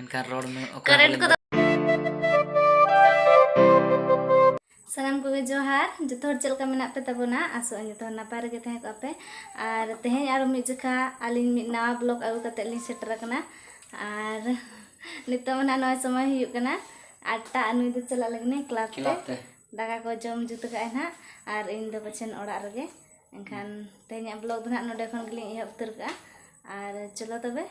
ᱮᱱᱠᱷᱟᱱ ᱨᱚᱲ ᱢᱮ ᱠᱟᱨᱮᱱᱴ ᱠᱚᱫᱚ ᱥᱟᱱᱟᱢ ᱠᱚᱜᱮ ᱡᱚᱦᱟᱨ ᱡᱚᱛᱚ ᱦᱚᱲ ᱪᱮᱫ ᱞᱮᱠᱟ ᱢᱮᱱᱟᱜ ᱯᱮ ᱛᱟᱵᱚᱱᱟ ᱟᱥᱚᱜ ᱟᱹᱧ ᱡᱚᱛᱚ ᱦᱚᱲ ᱱᱟᱯᱟᱭ ᱨᱮᱜᱮ ᱛᱟᱦᱮᱸ ᱠᱚᱜᱼᱟ ᱯᱮ ᱟᱨ ᱛᱮᱦᱮᱧ ᱟᱨᱚ ᱢᱤᱫ ᱡᱚᱠᱷᱟ ᱟᱹᱞᱤᱧ ᱢᱤᱫ ᱱᱟᱣᱟ ᱵᱞᱚᱜ ᱟᱹᱜᱩ ᱠᱟᱛᱮᱫ ᱞᱤᱧ ᱥᱮᱴᱮᱨ ᱟᱠᱟᱱᱟ ᱟᱨ ᱱᱤᱛᱚᱜ ᱢᱟ ᱱᱚᱜᱼᱚᱭ ᱥᱚᱢᱚᱭ ᱦᱩᱭᱩᱜ ᱠᱟᱱᱟ ᱟᱴᱴᱟ ᱟᱨ ᱱᱩᱭ ᱫᱚ ᱪᱟᱞᱟᱜ ᱞᱟᱹᱜᱤᱫ ᱠᱞᱟᱵᱽ ᱛᱮ ᱫᱟᱠᱟ ᱠᱚ ᱡᱚᱢ ᱡᱩᱛ ᱠᱟᱜᱼᱟᱭ ᱱᱟᱦᱟᱜ ᱟᱨ ᱤᱧ ᱫᱚ ᱯᱟᱪᱷᱮᱱ ᱚᱲᱟᱜ ᱨᱮᱜᱮ ᱮᱱᱠᱷᱟᱱ ᱛᱮᱦᱮᱧᱟᱜ ᱵᱞᱚᱜ ᱫᱚ ᱱᱟᱦᱟᱜ ᱱᱚᱰᱮ ᱠᱷᱚᱱ ᱜᱮᱞᱤᱧ ᱮᱦᱚᱵ ᱩᱛᱟᱹᱨ ᱠᱟᱜᱼᱟ ᱟᱨ ᱪᱚᱞᱚ ᱛᱚᱵᱮ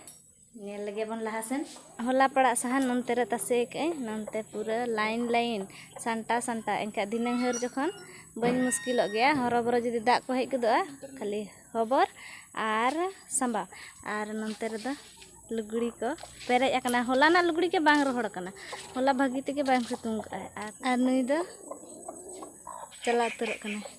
ᱧᱮᱞ ᱞᱮᱜᱮ ᱵᱚᱱ ᱞᱟᱦᱟ ᱥᱮᱱ ᱦᱚᱞᱟ ᱯᱟᱲᱟᱜ ᱥᱟᱦᱟᱱ ᱱᱚᱱᱛᱮ ᱨᱮ ᱛᱟᱥᱮ ᱟᱠᱟᱫ ᱟᱹᱧ ᱱᱚᱱᱛᱮ ᱯᱩᱨᱟᱹ ᱞᱟᱭᱤᱱ ᱞᱟᱭᱤᱱ ᱥᱟᱢᱴᱟᱣ ᱥᱟᱢᱴᱟᱣ ᱮᱱᱠᱷᱟᱱ ᱫᱷᱤᱱᱟᱹᱝ ᱦᱟᱹᱨ ᱡᱚᱠᱷᱚᱱ ᱵᱟᱹᱧ ᱢᱩᱥᱠᱤᱞᱚᱜ ᱜᱮᱭᱟ ᱦᱚᱨᱚ ᱵᱚᱨᱚ ᱡᱩᱫᱤ ᱫᱟᱜ ᱠᱚ ᱦᱮᱡ ᱜᱚᱫᱚᱜᱼᱟ ᱠᱷᱟᱹᱞᱤ ᱦᱚᱵᱚᱨ ᱟᱨ ᱥᱟᱢᱵᱟᱣ ᱟᱨ ᱱᱚᱱᱛᱮ ᱨᱮᱫᱚ ᱞᱩᱜᱽᱲᱤ ᱠᱚ ᱯᱮᱨᱮᱡ ᱟᱠᱟᱱᱟ ᱦᱚᱞᱟᱱᱟᱜ ᱞᱩᱜᱽᱲᱤ ᱜᱮ ᱵᱟᱝ ᱨᱚᱦᱚᱲ ᱟᱠᱟᱱᱟ ᱦᱚᱞᱟ ᱵᱷᱟᱹᱜᱤ ᱛᱮᱜᱮ ᱵᱟᱝ ᱥᱤᱛᱩᱝ ᱟᱠᱟᱫ ᱟᱭ ᱟᱨ ᱱᱩᱭ ᱫᱚ ᱪᱟᱞᱟᱣ ᱩᱛᱟᱹᱨᱚᱜ ᱠᱟᱱᱟᱭ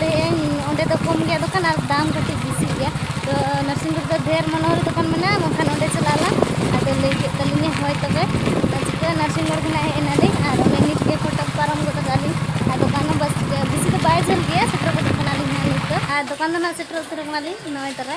ᱞᱟᱹᱭᱮᱫ ᱟᱹᱧ ᱚᱸᱰᱮ ᱫᱚ ᱠᱚᱢ ᱜᱮᱭᱟ ᱫᱚᱠᱟᱱ ᱟᱨ ᱫᱟᱢ ᱠᱟᱹᱴᱤᱡ ᱵᱮᱥᱤ ᱜᱮᱭᱟ ᱛᱚ ᱱᱟᱨᱥᱤᱝ ᱨᱮᱫᱚ ᱰᱷᱮᱨ ᱢᱚᱱᱮ ᱦᱚᱭ ᱫᱚᱠᱟᱱ ᱢᱮᱱᱟᱜᱼᱟ ᱵᱟᱝᱠᱷᱟᱱ ᱚᱸᱰᱮ ᱪᱟᱞᱟᱜ ᱟᱞᱟᱝ ᱟᱫᱚ ᱞᱟᱹᱭ ᱠᱮᱫ ᱛᱟᱹᱞᱤᱧᱟ ᱦᱳᱭ ᱛᱚᱵᱮ ᱟᱨ ᱪᱤᱠᱟᱹᱜᱼᱟ ᱱᱟᱨᱥᱤᱝ ᱢᱳᱲ ᱠᱷᱚᱱᱟᱜ ᱦᱮᱡ ᱮᱱᱟᱞᱤᱧ ᱟᱨ ᱚᱱᱮ ᱱᱤᱛ ᱜᱮ ᱯᱷᱚᱴᱚᱠ ᱯᱟᱨᱚᱢ ᱜᱚᱫ ᱠᱟᱜᱼᱟ ᱞᱤᱧ ᱟᱨ ᱫᱚᱠᱟᱱ ᱦᱚᱸ ᱵᱮᱥᱤ ᱫᱚ ᱵᱟᱭ ᱡᱷᱟᱹᱞ ᱜᱮᱭᱟ ᱥᱮᱴᱮᱨ ᱜᱚᱫᱚᱜ ᱠᱟᱱᱟᱞᱤᱧ ᱦᱟᱸᱜ ᱱᱤᱛ ᱫᱚ ᱟᱨ ᱫᱚᱠᱟᱱ ᱫᱚ ᱱᱟᱦᱟᱜ ᱥᱮᱴᱮᱨ ᱩᱛᱟᱹᱨᱚᱜ ᱠᱟᱱᱟᱞᱤᱧ ᱱᱚᱜᱼᱚᱭ ᱛᱚᱨᱟ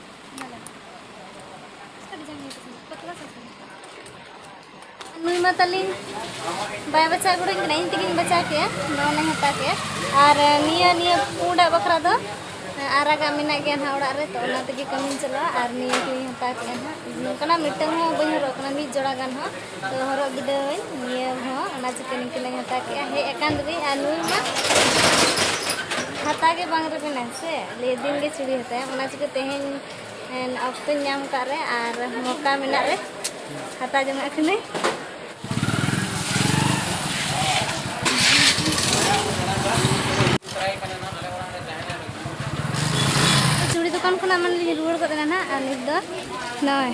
ᱱᱩᱭ ᱢᱟ ᱛᱟᱹᱞᱤᱧ ᱵᱟᱭ ᱵᱟᱪᱷᱟᱣ ᱜᱚᱲᱚᱧ ᱠᱟᱱᱟ ᱤᱧ ᱛᱮᱜᱮᱧ ᱵᱟᱪᱷᱟᱣ ᱠᱮᱜᱼᱟ ᱱᱚᱣᱟ ᱢᱟᱧ ᱦᱟᱛᱟᱣ ᱠᱮᱜᱼᱟ ᱟᱨ ᱱᱤᱭᱟᱹ ᱱᱤᱭᱟᱹ ᱯᱩᱸᱰᱟᱜ ᱵᱟᱠᱷᱨᱟ ᱫᱚ ᱟᱨᱟᱜᱟᱜ ᱢᱮᱱᱟᱜ ᱜᱮᱭᱟ ᱱᱟᱦᱟᱜ ᱚᱲᱟᱜ ᱨᱮ ᱛᱚ ᱚᱱᱟ ᱛᱮᱜᱮ ᱠᱟᱹᱢᱤᱧ ᱪᱟᱞᱟᱜᱼᱟ ᱟᱨ ᱱᱤᱭᱟᱹ ᱠᱚᱧ ᱦᱟᱛᱟᱣ ᱠᱮᱜᱼᱟ ᱱᱟᱦᱟᱜ ᱱᱚᱝᱠᱟᱱᱟᱜ ᱢᱤᱫᱴᱟᱹᱝ ᱦᱚᱸ ᱵᱟᱹᱧ ᱦᱚᱨᱚᱜ ᱠᱟᱱᱟ ᱢᱤᱫ ᱡᱚᱲᱟ ᱜᱟᱱ ᱦᱚᱸ ᱦᱚᱨᱚᱜ ᱵᱤᱰᱟᱹᱣᱟᱹᱧ ᱱᱤᱭᱟᱹ ᱦᱚᱸ ᱚᱱᱟ ᱪᱤᱠᱟᱹ ᱱᱤᱝᱠᱟᱹ ᱞᱟᱝ ᱦᱟᱛᱟᱣ ᱠᱮᱜᱼᱟ ᱦᱮᱡ ᱟᱠᱟᱱ ᱨᱮᱵᱤᱱ ᱟᱨ ᱱᱩᱭ ᱢᱟ ᱦᱟᱛᱟᱣ ᱜᱮ ᱵᱟᱝ ᱨᱮᱵᱤᱱᱟ ᱥᱮ ᱞᱟᱹᱭ ᱫᱤᱱ ᱜᱮ ᱪᱩᱲᱤ ᱦᱟᱛᱟᱣ ᱚᱱᱟ ᱪᱤᱠᱟᱹ ᱛᱮᱦᱮᱧ ᱚᱠᱛᱚᱧ ᱧᱟᱢ ᱠᱟᱜ ᱨᱮ ᱟᱨ ᱢᱚᱠᱟ ᱢᱮᱱᱟᱜ ᱨᱮ ᱦᱟᱛᱟᱣ ᱡᱚᱝᱟᱜ ᱠᱟᱹᱱᱟᱹᱧ ᱪᱩᱲᱤ ᱫᱚᱠᱟᱱ ᱠᱷᱚᱱᱟᱜ ᱢᱟᱱᱮ ᱞᱤᱧ ᱨᱩᱣᱟᱹᱲ ᱜᱚᱫ ᱮᱱᱟ ᱱᱟᱜ ᱟᱨ ᱱᱤᱛ ᱫᱚ ᱱᱚᱜᱼᱚᱭ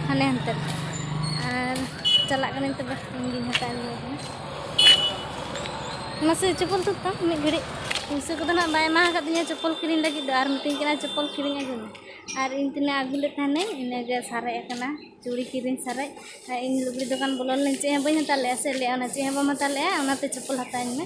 ᱦᱟᱱᱮ ᱦᱟᱱᱛᱮ ᱟᱨ ᱪᱟᱞᱟᱜ ᱠᱟᱹᱱᱟᱹᱧ ᱛᱚᱵᱮ ᱤᱧᱜᱤᱧ ᱦᱟᱛᱟᱣ ᱟᱹᱜᱩᱭ ᱠᱟᱱᱟ ᱢᱟᱥᱮ ᱪᱚᱯᱚᱞ ᱛᱩᱫ ᱛᱟᱢ ᱢᱤᱫ ᱜᱷᱟᱹᱲᱤᱡ ᱯᱩᱭᱥᱟᱹ ᱠᱚᱫᱚ ᱱᱟᱜ ᱵᱟᱭ ᱮᱢᱟ ᱟᱠᱟᱫᱤᱧᱟ ᱪᱚᱯᱚᱞ ᱠᱤᱨᱤᱧ ᱞᱟᱹᱜᱤᱫ ᱫᱚ ᱟᱨ ᱢᱤᱛᱟᱹᱧ ᱠᱟᱱᱟ ᱪᱚᱯᱚᱞ ᱠᱤᱨᱤᱧ ᱟᱹᱜᱩᱭ ᱢᱮ ᱟᱨ ᱤᱧ ᱛᱤᱱᱟᱹᱜ ᱟᱹᱜᱩ ᱞᱮᱫ ᱛᱟᱦᱮᱱᱟᱹᱧ ᱤᱱᱟᱹᱜᱮ ᱥᱟᱨᱮᱡ ᱟᱠᱟᱱᱟ ᱪᱩᱲᱤ ᱠᱤᱨᱤᱧ ᱥᱟᱨᱮᱡ ᱟᱨ ᱤᱧ ᱞᱩᱜᱽᱲᱤ ᱫᱚᱠᱟᱱ ᱵᱚᱞᱚ ᱞᱮᱱᱟᱹᱧ ᱪᱮᱫ ᱦᱚᱸ ᱵᱟᱹᱧ ᱦᱟᱛᱟᱣ ᱞᱮᱫᱼᱟ ᱥᱮ ᱞᱟᱹᱭᱮᱫᱼᱟ ᱚᱱᱟ ᱪᱮᱫ ᱦᱚᱸ ᱵᱟᱢ ᱦᱟᱛᱟᱣ ᱞᱮᱫᱼᱟ ᱚᱱᱟᱛᱮ ᱪᱚᱯᱚᱞ ᱦᱟᱛᱟᱣ ᱟᱹᱧ ᱢᱮ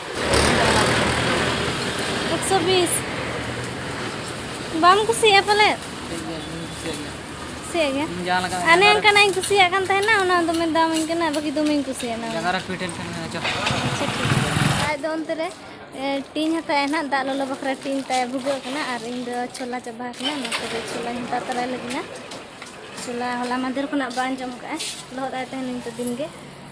ᱮᱠᱥᱚ ᱵᱤᱥ ᱵᱟᱢ ᱠᱩᱥᱤᱭᱟᱜᱼᱟ ᱯᱟᱞᱮ ᱠᱩᱥᱤᱭᱟᱜ ᱜᱮᱭᱟ ᱡᱟᱦᱟᱸ ᱞᱮᱠᱟ ᱟᱨ ᱱᱮᱝ ᱠᱟᱱᱟᱧ ᱠᱩᱥᱤᱭᱟᱜ ᱠᱟᱱ ᱛᱟᱦᱮᱱᱟ ᱚᱱᱟ ᱫᱚᱢᱮ ᱫᱟᱢᱟᱹᱧ ᱠᱟᱱᱟ ᱵᱟᱹᱠᱤ ᱫᱚᱢᱮᱧ ᱠᱩᱥᱤᱭᱟᱜᱼᱟ ᱡᱟᱸᱜᱟ ᱨᱮ ᱯᱷᱤᱴ ᱮᱱ ᱠᱷᱟᱱ ᱟᱪᱪᱷᱟ ᱴᱷᱤᱠ ᱟᱡ ᱫᱚ ᱚᱱᱛᱮ ᱨᱮ ᱴᱤᱧ ᱦᱟᱛᱟᱣᱮᱫ ᱱᱟᱜ ᱫᱟᱜ ᱞᱚᱞᱚ ᱵᱟᱠᱷᱨᱟ ᱴᱤᱧ ᱛᱟᱭ ᱵᱷᱩᱜᱟᱹᱜ ᱠᱟᱱᱟ ᱟᱨ ᱤᱧ ᱫᱚ ᱪᱷᱳᱞᱟ ᱪᱟᱵᱟ ᱟᱠᱟᱱᱟ ᱚᱱᱟ ᱛᱮᱜᱮ ᱪᱷᱳᱞᱟᱧ ᱦᱟᱛᱟᱣ ᱛᱟᱨᱟᱭ ᱞᱟᱹᱜᱤᱫ ᱪᱷᱳᱞᱟ ᱦᱚᱞᱟ ᱢᱟᱫᱷᱮᱨ ᱠᱷᱚᱱᱟᱜ ᱵᱟᱝ ᱡᱚᱢ ᱠᱟᱜᱼᱟ ᱞᱚᱦᱚᱫ ᱟᱭ ᱛᱟᱦᱮᱱᱟᱹᱧ ᱛᱚ ᱫᱤᱱ ᱜᱮ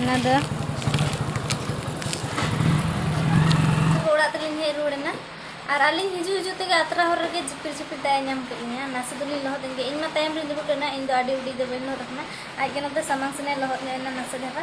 ᱚᱱᱟᱫᱚ ᱚᱲᱟᱜ ᱛᱮᱞᱤᱧ ᱦᱮᱡ ᱨᱩᱣᱟᱹᱲ ᱮᱱᱟ ᱟᱨ ᱟᱹᱞᱤᱧ ᱦᱤᱡᱩᱜ ᱦᱤᱡᱩᱜ ᱛᱮᱜᱮ ᱟᱛᱨᱟ ᱦᱚᱨ ᱨᱮᱜᱮ ᱡᱷᱤᱯᱤᱨ ᱡᱷᱤᱯᱤᱨ ᱫᱟᱜ ᱮ ᱧᱟᱢ ᱠᱮᱫ ᱞᱤᱧᱟ ᱱᱟᱥᱮ ᱫᱚᱞᱤᱧ ᱞᱚᱦᱚᱫ ᱮᱱ ᱜᱮ ᱤᱧ ᱢᱟ ᱛᱟᱭᱚᱢ ᱨᱤᱧ ᱫᱩᱲᱩᱵ ᱞᱮᱱᱟ ᱤᱧ ᱫᱚ ᱟᱹᱰᱤ ᱩᱰᱤ ᱫᱚ ᱵᱟᱹᱧ ᱞᱚᱦᱚᱫ ᱟᱠᱟᱱᱟ ᱟᱡ ᱜᱮ ᱱᱚᱛᱮ ᱥᱟᱢᱟᱝ ᱥᱮᱱᱮ ᱞᱚᱦᱚᱫ ᱧᱚᱜ ᱮᱱᱟ ᱱᱟᱥᱮ ᱫᱷᱟᱨᱟ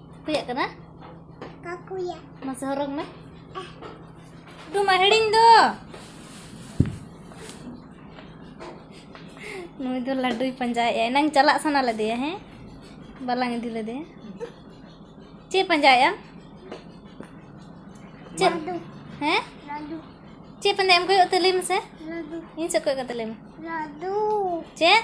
ᱠᱩᱭᱟᱜ ᱠᱟᱱᱟ ᱠᱟᱠᱩᱭᱟ ᱢᱟᱥᱮ ᱦᱚᱨᱚᱜ ᱢᱮ ᱫᱩ ᱢᱟ ᱦᱤᱲᱤᱧ ᱫᱚ ᱱᱩᱭ ᱫᱚ ᱞᱟᱹᱰᱩᱭ ᱯᱟᱸᱡᱟᱭᱮᱜᱼᱟ ᱮᱱᱟᱝ ᱪᱟᱞᱟᱜ ᱥᱟᱱᱟ ᱞᱮᱫᱮᱭᱟ ᱦᱮᱸ ᱵᱟᱞᱟᱝ ᱤᱫᱤ ᱞᱮᱫᱮᱭᱟ ᱪᱮᱫ ᱯᱟᱸᱡᱟᱭᱮᱜᱼᱟᱢ ᱪᱮᱫ ᱦᱮᱸ ᱪᱮᱫ ᱯᱟᱸᱡᱟᱭᱮᱜᱼᱟᱢ ᱠᱚᱭᱚᱜ ᱛᱮ ᱞᱟᱹᱭ ᱢᱮᱥᱮ ᱤᱧ ᱥᱮᱫ ᱠᱚᱭᱚᱜ ᱠᱟᱛᱮ ᱞᱟᱹᱭ ᱢᱮ ᱪᱮᱫ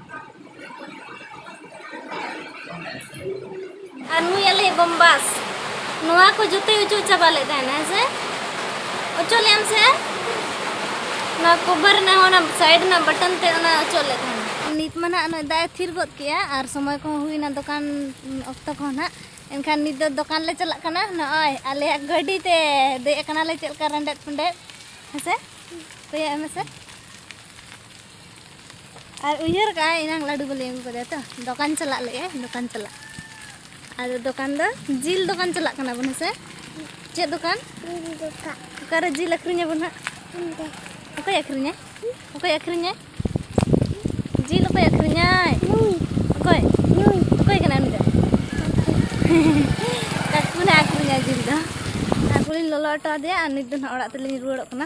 ᱟᱨ ᱱᱩᱭ ᱟᱞᱮᱭᱤᱡ ᱵᱚᱢᱵᱟᱥ ᱱᱚᱣᱟ ᱠᱚ ᱡᱚᱛᱚᱭ ᱚᱪᱚᱜ ᱪᱟᱵᱟ ᱞᱮᱫ ᱛᱟᱦᱮᱱᱟ ᱦᱮᱸ ᱥᱮ ᱚᱪᱚᱜ ᱞᱮᱫ ᱟᱢ ᱥᱮ ᱱᱚᱣᱟ ᱠᱚᱵᱷᱟᱨ ᱨᱮᱱᱟᱜ ᱦᱚᱸ ᱚᱱᱟ ᱥᱟᱭᱤᱰ ᱨᱮᱱᱟᱜ ᱵᱟᱴᱚᱱ ᱛᱮ ᱚᱱᱟ ᱚᱪᱚᱜ ᱞᱮᱫ ᱛᱟᱦᱮᱱᱟ ᱱᱤᱛ ᱢᱟ ᱱᱟᱜ ᱱᱚᱜᱼᱚᱭ ᱫᱟᱜ ᱮ ᱛᱷᱤᱨ ᱜᱚᱫ ᱠᱮᱜᱼᱟ ᱟᱨ ᱥᱚᱢᱚᱭ ᱠᱚᱦᱚᱸ ᱦᱩᱭᱱᱟ ᱫᱚᱠᱟᱱ ᱚᱠᱛᱚ ᱠᱚᱦᱚᱸ ᱱᱟᱜ ᱮᱱᱠᱷᱟᱱ ᱱᱤᱛ ᱫᱚ ᱫᱚᱠᱟᱱ ᱞᱮ ᱪᱟᱞᱟᱜ ᱠᱟᱱᱟ ᱱᱚᱜᱼᱚᱭ ᱟᱞᱮᱭᱟᱜ ᱜᱟᱹᱰᱤ ᱛᱮ ᱫᱮᱡ ᱟᱠᱟᱱᱟᱞᱮ ᱪᱮᱫ ᱞᱮᱠᱟ ᱨᱮᱸᱰᱮᱫ ᱯᱮᱸᱰᱮᱫ ᱦᱮᱸ ᱥᱮ ᱠᱚᱭᱚᱜ ᱢᱮᱥᱮ ᱟᱨ ᱩᱭᱦᱟᱹᱨ ᱠᱟᱜᱼᱟ ᱮᱱᱟᱝ ᱞᱟᱹᱰᱩ ᱵᱟᱞᱮ ᱟᱹᱜᱩ ᱠᱟᱫᱮᱭᱟ ᱛᱚ ᱫᱚᱠᱟᱱ ᱪᱟᱞᱟᱜ ᱞᱟᱹᱭ ᱟᱭ ᱫᱚᱠᱟᱱ ᱪᱟᱞᱟᱜ ᱟᱫᱚ ᱫᱚᱠᱟᱱ ᱫᱚ ᱡᱤᱞ ᱫᱚᱠᱟᱱ ᱪᱟᱞᱟᱜ ᱠᱟᱱᱟ ᱵᱚᱱ ᱦᱮᱸᱥᱮ ᱪᱮᱫ ᱫᱚᱠᱟᱱ ᱚᱠᱟᱨᱮ ᱡᱤᱞ ᱟᱹᱠᱷᱨᱤᱧ ᱟᱵᱚᱱ ᱦᱟᱸᱜ ᱚᱠᱚᱭ ᱟᱹᱠᱷᱨᱤᱧᱟᱭ ᱚᱠᱚᱭ ᱟᱹᱠᱷᱨᱤᱧᱟᱭ ᱡᱤᱞ ᱚᱠᱚᱭ ᱟᱹᱠᱷᱨᱤᱧᱟᱭ ᱚᱠᱚᱭ ᱚᱠᱚᱭ ᱠᱟᱱᱟ ᱩᱱᱤ ᱫᱚ ᱠᱟᱠᱩ ᱱᱟᱜ ᱟᱹᱠᱷᱨᱤᱧᱟᱭ ᱡᱤᱞ ᱫᱚ ᱟᱨ ᱠᱚᱞᱤᱧ ᱞᱚᱞᱚ ᱦᱚᱴᱚ ᱟᱫᱮᱭᱟ ᱟᱨ ᱱᱤᱛ ᱫᱚ ᱱᱟᱜ ᱚᱲᱟᱜ ᱛᱮᱞᱤᱧ ᱨᱩᱣᱟᱹᱲᱚᱜ ᱠᱟᱱᱟ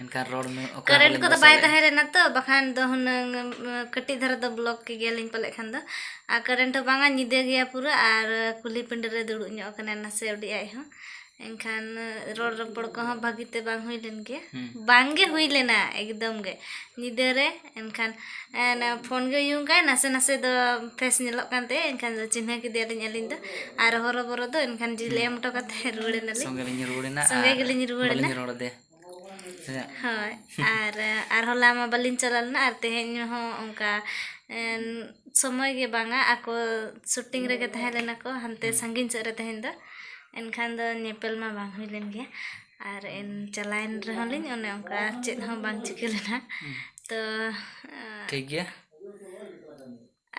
ᱮᱱᱠᱷᱟᱱ ᱨᱚᱲ ᱢᱮ ᱚᱠᱟ ᱠᱟᱨᱮᱱᱴ ᱨᱮᱞᱮ ᱠᱚᱫᱚ ᱵᱟᱭ ᱵᱟᱥᱟᱭᱮᱫᱼᱟ? ᱛᱟᱦᱮᱸ ᱞᱮᱱᱟ ᱛᱚ ᱵᱟᱠᱷᱟᱱ ᱫᱚ ᱦᱩᱱᱟᱹᱝ ᱮᱢ, ᱠᱟᱹᱴᱤᱡ ᱫᱷᱟᱨᱟ ᱫᱚ ᱵᱞᱚᱠ ᱠᱮ ᱜᱮᱭᱟᱞᱤᱧ ᱯᱟᱞᱮᱫ ᱠᱷᱟᱱ ᱫᱚ ᱟᱨ ᱠᱟᱨᱮᱱᱴ ᱦᱚᱸ ᱵᱟᱝᱟ ᱧᱤᱫᱟᱹ ᱜᱮᱭᱟ ᱯᱩᱨᱟᱹ ᱟᱨ ᱠᱩᱞᱦᱤ ᱯᱤᱸᱰᱟᱹ ᱨᱮ ᱫᱩᱲᱩᱵ ᱧᱚᱜ ᱟᱠᱟᱱᱟ ᱱᱟᱥᱮ ᱩᱰᱤ ᱟᱡ ᱦᱚᱸ ᱮᱱᱠᱷᱟᱱ ᱨᱚᱲ ᱨᱚᱯᱚᱲ ᱠᱚᱦᱚᱸ ᱵᱷᱟᱹᱜᱤᱛᱮ ᱵᱟᱝ ᱦᱩᱭ ᱞᱮᱱ ᱜᱮᱭᱟ ᱦᱩᱸ᱾ ᱵᱟᱝᱜᱮ ᱦᱩᱭ ᱞᱮᱱᱟ ᱮᱠᱫᱚᱢ ᱜᱮ ᱧᱤᱫᱟᱹ ᱨᱮ ᱮᱱᱠᱷᱟᱱ ᱯᱷᱳᱱ ᱜᱮ ᱩᱭᱩᱝ ᱠᱟᱜᱼᱟᱭ ᱱᱟᱥᱮ ᱱᱟᱥᱮ ᱫᱚ ᱯᱷᱮᱥ ᱧᱮᱞᱚᱜ ᱠᱟᱱ ᱛᱟᱭᱟ ᱮᱱᱠᱷᱟᱱ ᱫᱚ ᱪᱤᱱᱦᱟᱹ ᱠᱮᱫᱮᱭᱟᱞᱤᱧ ᱟᱹᱞᱤᱧ ᱫᱚ ᱟᱨ ᱦᱚᱨᱚ ᱵᱚᱨᱚ ᱫᱚ ᱮᱱᱠᱷᱟᱱ ᱡᱤᱞ ᱮᱢ ᱦᱚᱴᱚ ᱠᱟᱛᱮᱫ ᱨᱩᱣᱟᱹᱲ ᱮᱱᱟᱞᱤᱧ ᱥᱚᱸᱜᱮ ᱞᱤᱧ ᱨᱩᱣᱟᱹᱲ ᱮᱱᱟ ᱥᱚᱸᱜᱮ ᱜᱮᱞᱤᱧ ᱨᱩᱣᱟᱹᱲ ᱮᱱᱟ ᱵᱟᱹᱞᱤᱧ ᱨᱚᱲ ᱟᱫᱮᱭᱟ ᱦᱳᱭ ᱟᱨ ᱟᱨ ᱦᱚᱞᱟ ᱢᱟ ᱵᱟᱹᱞᱤᱧ ᱪᱟᱞᱟᱣ ᱞᱮᱱᱟ ᱟᱨ ᱛᱮᱦᱮᱧ ᱦᱚᱸ ᱚᱱᱠᱟ ᱥᱚᱢᱚᱭ ᱜᱮ ᱵᱟᱝᱟ ᱟᱠᱚ ᱥᱩᱴᱤᱝ ᱨᱮᱜᱮ ᱛᱟᱦᱮᱸ ᱞᱮᱱᱟ ᱠᱚ ᱦᱟᱱᱛᱮ ᱥᱟᱺᱜᱤᱧ ᱥᱮᱫ ᱨᱮ ᱛᱮᱦᱮᱧ ᱫᱚ ᱮᱱᱠᱷᱟᱱ ᱫᱚ ᱧᱮᱯᱮᱞ ᱢᱟ ᱵᱟᱝ ᱦᱩᱭ ᱞᱮᱱ ᱜᱮᱭᱟ ᱟᱨ ᱮᱱ ᱪᱟᱞᱟᱣᱮᱱ ᱨᱮᱦᱚᱸ ᱞᱤᱧ ᱚᱱᱮ ᱚᱱᱠᱟ ᱪᱮᱫ ᱦᱚᱸ ᱵᱟᱝ ᱪᱤᱠᱟᱹ ᱞᱮᱱᱟ ᱛᱚ ᱴᱷᱤᱠ ᱜᱮᱭᱟ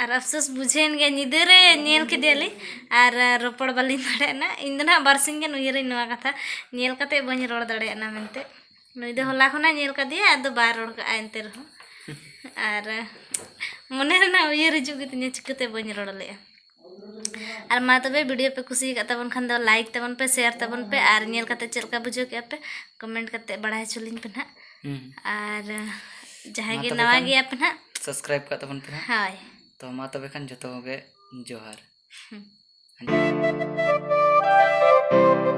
ᱟᱨ ᱟᱯᱷᱥᱳᱥ ᱵᱩᱡᱷᱟᱹᱣᱮᱱ ᱜᱮᱭᱟ ᱧᱤᱫᱟᱹ ᱨᱮ ᱧᱮᱞ ᱠᱮᱫᱮᱭᱟᱞᱤᱧ ᱟᱨ ᱨᱚᱯᱚᱲ ᱵᱟᱹᱞᱤᱧ ᱫᱟᱲᱮᱭᱟᱜᱱᱟ ᱤᱧ ᱫᱚ ᱱᱟᱦᱟᱜ ᱵᱟᱨᱥᱤᱧ ᱜᱟᱱ ᱩᱭᱦᱟᱹᱨᱟᱹᱧ ᱱᱚᱣᱟ ᱠᱟᱛᱷᱟ ᱧᱮᱞ ᱠᱟᱛᱮᱫ ᱵᱟᱹᱧ ᱨᱚᱲ ᱫᱟᱲᱮᱭᱟᱜᱱᱟ ᱢᱮᱱᱛᱮ ᱱᱩᱭ ᱫᱚ ᱦᱚᱞᱟ ᱠᱷᱚᱱᱟᱜ ᱧᱮᱞ ᱠᱟᱫᱮᱭᱟ ᱟᱫᱚ ᱵᱟᱭ ᱨᱚᱲ ᱠᱟᱜᱼᱟ ᱮᱱᱛᱮ ᱨᱮᱦᱚᱸ ᱟᱨ ᱢᱚᱱᱮ ᱨᱮᱱᱟᱜ ᱩᱭᱦᱟᱹᱨ ᱦᱤᱡᱩᱜ ᱜᱮᱛᱤᱧᱟ ᱪᱤᱠᱟᱹᱛᱮ ᱵᱟᱹᱧ ᱨᱚᱲ ᱞᱮᱜᱼᱟ ᱟᱨ ᱢᱟ ᱛᱚᱵᱮ ᱵᱷᱤᱰᱤᱭᱳ ᱯᱮ ᱠᱩᱥᱤ ᱟᱠᱟᱫ ᱛᱟᱵᱚᱱ ᱠᱷᱟᱱ ᱫᱚ ᱞᱟᱭᱤᱠ ᱛᱟᱵᱚᱱ ᱯᱮ ᱥᱮᱭᱟᱨ ᱛᱟᱵᱚᱱ ᱯᱮ ᱟᱨ ᱧᱮᱞ ᱠᱟᱛᱮ ᱪᱮᱫ ᱞᱮᱠᱟ ᱵᱩᱡᱷᱟᱹᱣ ᱠᱮᱫᱼᱟ ᱯᱮ ᱠᱚᱢᱮᱱᱴ ᱠᱟᱛᱮ ᱵᱟᱲᱟᱭ ᱦᱚᱪᱚ ᱞᱤᱧ ᱯᱮ ᱱᱟᱦᱟᱜ ᱟᱨ ᱡᱟᱦᱟᱸᱭ ᱜᱮ ᱱᱟᱣᱟ ᱜᱮᱭᱟ ᱯᱮ ᱱᱟᱦᱟᱜ ᱥᱟᱵᱥᱠᱨᱟᱭᱤᱵ ᱠᱟᱜ ᱛᱟᱵᱚᱱ ᱯᱮ ᱱᱟᱦᱟᱜ ᱦᱳᱭ ᱛᱚ ᱢᱟ ᱛᱚᱵᱮ ᱠᱷᱟᱱ ᱡᱚᱛᱚ ᱜᱮ ᱡᱚᱦᱟᱨ